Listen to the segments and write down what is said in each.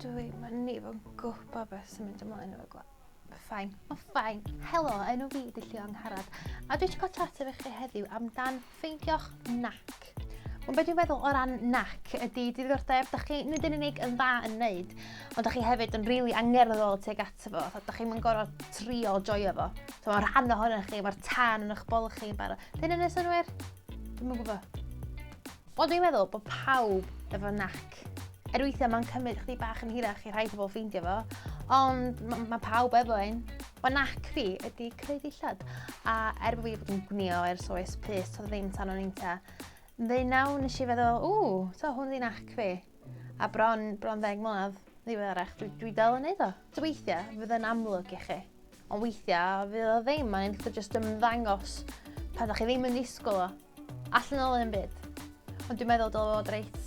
Dwi'n mynd i fod yn gwybod beth sy'n mynd ymlaen o'r gwaith. Ffain. O, ffain. Helo, enw fi ydy Llio Angharad. A dwi eisiau cael chat efo chi heddiw amdan ffeindio'ch nac. Ond beth dwi'n feddwl o ran nac ydy diddordeb, da chi nid yn unig yn dda yn wneud, ond da chi hefyd yn rili really angerddol tuag ato fo. Da chi'n mynd gorau trio joio fo. So, mae rhan ohonoch chi, mae'r tân yn eich bol chi yn barod. Dyn yn y synwyr? Dwi'n yn gwybod. Wel, dwi'n meddwl bod pawb efo nac. Er weithiau mae'n cymryd chdi bach yn hirach i rhai pobl ffeindio fo, ond mae ma pawb efo un. Mae nac fi ydy creu dillad, a er bod fi wedi bod yn gwnio ers oes pus, toedd ddim tan o'n inta. Ddeunaw nes i feddwl, ww, to hwn di nac fi. A bron, bron ddeg mlynedd ddiweddarach, dwi, dwi dal yn neud o. Dwi weithiau, fydd yn amlwg i chi. Ond weithiau, fydd o ddim, mae'n eitha jyst ymddangos pan ydych chi ddim yn disgwyl o. Allan o'n un byd. Ond dwi'n meddwl dylai fod reit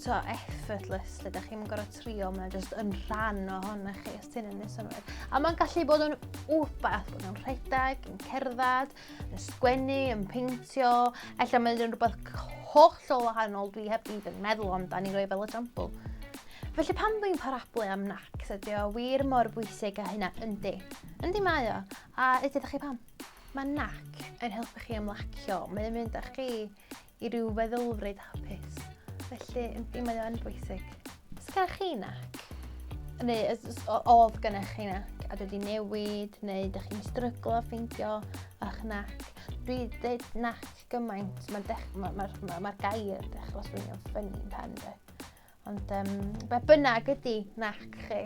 so effortless lle ydych chi'n gorau trio, mae'n jyst yn rhan o hon chi, os ti'n yn ei A mae'n gallu bod yn wbath, bod yn rhedeg, yn cerdded, yn sgwennu, yn peintio, efallai mae yn rhywbeth hollol wahanol dwi heb even meddwl ond da ni roi fel example. Felly pan dwi'n parablu am nac, ydy o wir mor bwysig a hynna, yndi. Yndi mae o, a ydy ydych chi pam? Mae nac yn helpu chi ymlacio, mae'n mynd â chi i ryw feddylfryd hapus, felly yndi mae o'n bwysig. Os gennych chi nac, neu oedd gennych chi nac a dwi wedi newid, neu ydych chi'n stryglo a ffeindio a'ch nac, dwi dweud nac gymaint, mae'r ma, ma, ma, ma gair dechrau swynio'n ffynnu yn pen dwi. Ond um, be bynnag ydy nac chi,